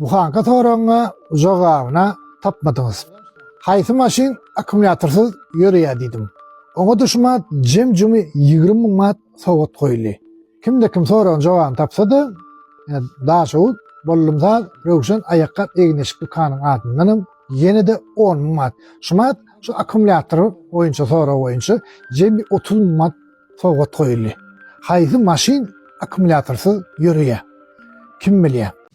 Bu sanky soragyňa jogabyna tapmadyňyz. Haýsy maşyn akkumulýatorsyz ýöreýär diýdim. Oňa da şu mat jem-jümi ýigrimi müň manat sowgat goýuldy. Kimde kim soragyň jogabyny tapsa-da, ýa Daşoguz, Bollumsaz, Röwşen aýakgap egin-eşik dükanyň adyndanam ýene-de on müň manat. Şu mat şu akkumulýator boýunça sorag boýunça jemi otuz müň manat sowgat goýuldy. Haýsy maşyn akkumulýatorsyz ýöreýär? Kim bilýär?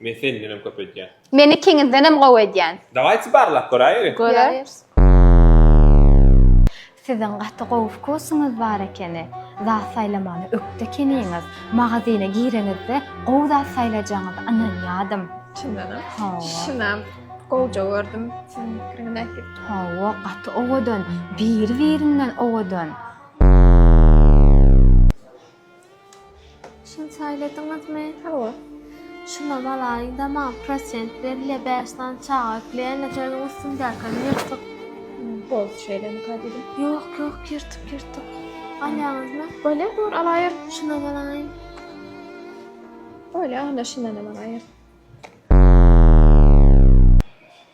Men sendenem köp edýän. Men ikiňizdenem gowy edýän. Dawaýçy barlap göräýeli. Göräýeris. Siziň gaty gowy wkusyňyz bar ekeni. Zat saýlamagda ökde ekeniňiz. Magazyna gireňizde gowy zat saýlajagyňyza ynanýadym. Çyndanam. Hawa. Şunam gowja gördüm siziň pikiriňizi. Hawa gaty owadan. Biri birinden owadan. Şuny saýladyňyzmy? Hawa. Şunam alaýyn-da, maňa prosent berilýär, bäş sany çaga ekleýän-de, şonuň üstündäkini ýyrtyk. Boldy, şeýlemi kadyýdim? Ýok, ýok, ýyrtyk, ýyrtyk. Alýaňyzmy? Bolýar, bor, alaýyn. Şunam alaýyn. Bolýar, onda şundanam alaýyn.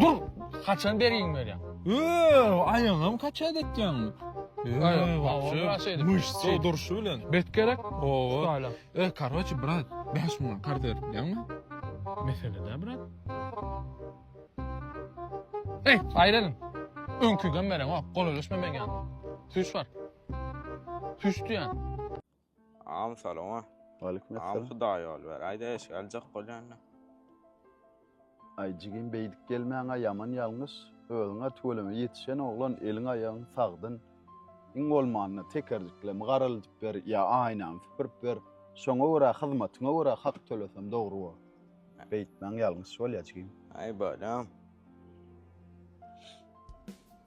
Dur! Haçan bergin berýäň? Öööw, aýagam kaçat etýäňmi? Durşy bilen. Bet gerek? Öööw, korotçe, brat, bäş müňe karz ber diýýäňmi? Mesele däl, brat. Eý, aýrylyň! Öňkügem bereňok, golalaşma meň ýanyma. Süýş bar. Süýş diýýän. Agam salama. Waleýkim Agam essalam. hudaý ýol ber. Aýda eşik aljak bolýanda. Aý jigim beýdip gelmäňä ýaman ýalňyş, özüňä tüweleme ýetişen oglan eliň aýagyň sagdyn, iň bolmanda tekerjiklemi garalydyp ber ýa aýnany süpürip ber, şoňa görä hyzmatyňa görä hak töleseň dogry bor. Beýtmäň ýalňyş bolýa jigim. Aý bolýam.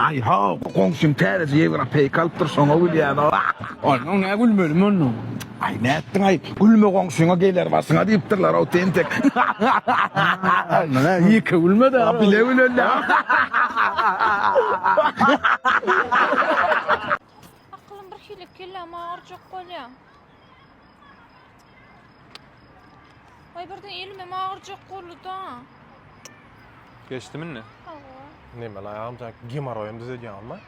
Aý haw, bu goňşyň täzeje ýewropeýka alypdyr, şoňa gülýänaw. Aý, muňa nä gülmeli mundan? Aý, nätdiň-aý, gülme goňşyňa geler başyňa diýipdirler-ow, tentek. Muňa iki gülme-de, a bile güleli. Akylym birhili, kelläm agyrjak bolýa. Ay birden elimem ağırcak kolu da. Geçti mi ne? Hava. Ne ben ayağım can gemoroyum düzediyorum ben.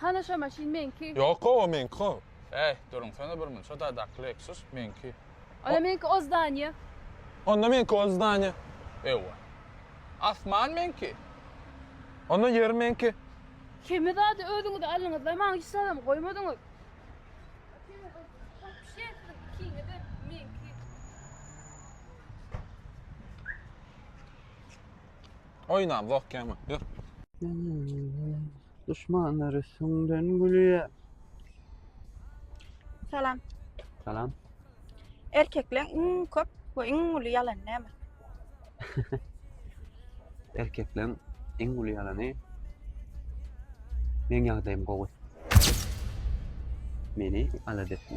Hana şo maşyn meňki. Yok o meňki o. Ey durun sana bir mün. Şo da dakle eksus meňki. Onda meňki o zdaniýe. Onda meňki o zdaniýe. Ewa. Asman meňki. Onda ýer meňki. Hemme zady özüňiz aldyňyz-da, maňa hiç zadam goýmadyňyz. Oýnamzok ýa-ma, ýör. Düşmanlary süňden gülýä. Salam. Salam. Erkekleň iň köp we iň uly ýalany näme? Erkekleň iň uly ýalany Meň ýagdaýym gowy. Meni alada etme.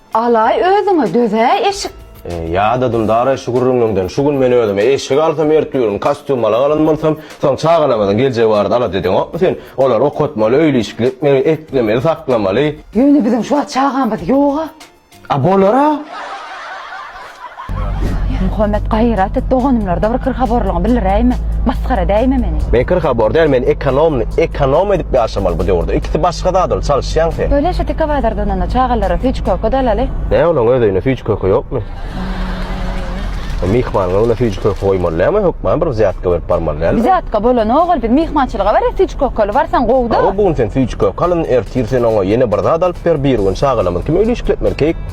Alaý özüňe döz-äý eşik. Ýa-da Dündar-aý şu gürrüňiňden şu gün men özüme eşik alsam ertügün kostýum ala galan bolsam, soň çagalarymyzyň geljegi barada alada edeňokmy sen? Olary okatmaly, öýli-işikli etmeli, eklemeli, saklamaly. Ýöne biziň şu wagt çagamyz ýog-a. A bolar-a. Muhammet gaýrat et doganymlarda bir kyrhaborlygyňy bildiräýme, masgara edäýme meni. Men kyrhabor däl men ekonomny ekonom edip ýaşamaly bu döwürde ikisi başga zat ol çalyşýaň sen. Söyle şu tike bazardan onda çagalara süýji köke dalaly. Näme onuň öz öýünde süýji köke ýokmy? Ol myhmanyň öňüne süýji köke goýmaly dälmi hökman bir wzýatka berip barmaly dälmi? Wzýatka bolanok ol biz myhmançylyga barýas süýji kökeli barsaň gowuda. Hawa bu gün sen süýji köke alyn ertir sen oňa ýene bir zat alyp ber birigün çagalarymyz kim öýli işkletmeli keýik.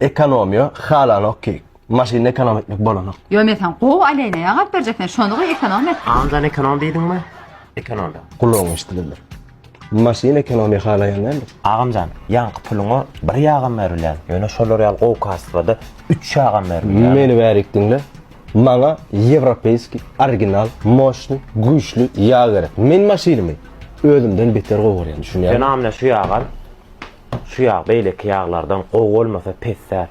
Ekonomiýa halanok ki maşyny ekonom etmek bolanok. Ýo men sen gowy aleyna ýagap berjek sen şony goý ekonom et. Anjan ekonom diýdiňmi? Ekonom da. Gulagyň eşdilendir. Maşyn ekonomiýa halaýan däldir. Agamjan ýaňky puluňa bir ýagam berilýän ýöne şolar ýaly gowy kasbada üç ýagam berilýär. Meni bärik diňle. Maňa ýewropeýskiý, original, moşnyý, güýçli ýag gerek. Men maşynymy özümden beter gowy görýän düşünýäňmi? Sen amle şu ýagy al. Şu ýag beýleki ýaglardan gowy bolmasa pes däl.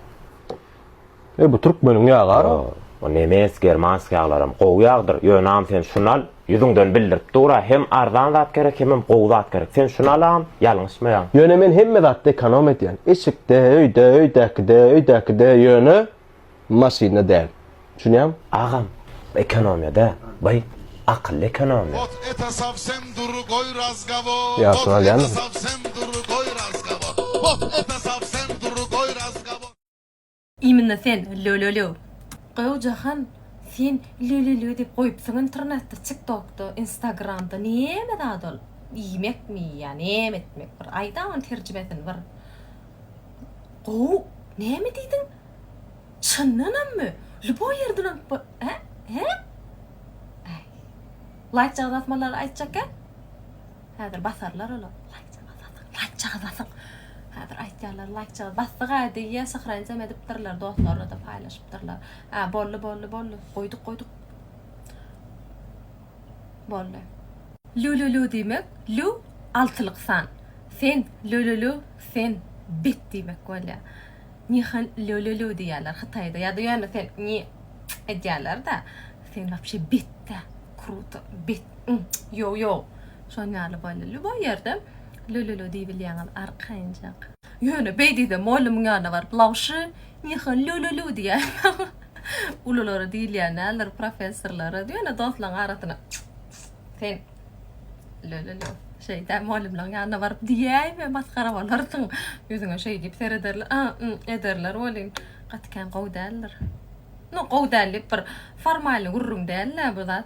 E bu türkmeniň ýagara. Bu nemes, germansk ýaglaram gowy ýagdyr. Ýönem sen şuny al, ýüzüňden bildirip dur-a, hem arzan zat gerek, hemem gowy zat gerek. Sen şuny al-a, ýalňyşmaýaň. Ýöne men hemme zatda ekonom edýän. Eşikde, öýde, öýdäkide, öýdäkide, ýöne maşynda däl. Düşünýäňmi? Agam bu ekonomiýa däl. By akylly ekonomiýa. Ot ete sowsem dury goý razgawor. Ýagşyny alýarmysyň? Iminna sen lölölö. Gow Jahan sen lölölö diýip goýupsyň internetde tik tokda instagramda neme zat ol iýmekmi ýa neme etmek bir aýda ony terjimesini bir gow neme diýdiň. Çyndanammy? Ljuboý ýerden alyp bo Hä? Hä? Äý. Laýkjagazy basmalary aýtjakka? Häzir basarlar olar. Laýkjagazy basyň, laýkjagazy basyň! Häzir aýtýarlar, laýkjagazy basdyg-a diýýä, syhrançam edipdirler, dostlaryna-da paýlaşypdyrlar. Hä, boldy, boldy, boldy. Goýduk, goýduk. Boldy. Lü-lü-lü diýmek, lü, altylyk san. Sen, lü-lü-lü, sen, bet diýmek bolýar. Nihan lou lou lou diýýärler hytaýda ýa-da ýöne sen nji edýärler-dä sen wapşe betde kruto bet nji ýow ýow şon ýaly bolýa lýuboý ýerde lou lou lou diýibilýäňiz arkaýynjak. Ýöne beýdide mollymyň ýanyna baryp lawşy nihan lou lou lou diýýärler ululara diýilýär näler professorlara ýöne dostlaryň arasyna nji sen. Lölölö. Şeýdä mugallymlaryň ýanyna baryp diýäýme, masgara bolarsyň. Ýüzüňe şeý diýip serederler, a-m ederler welin, gaty kän gowy däldir. No, gowy däl diýip bir formalny gürrüň däl-dä bu zat.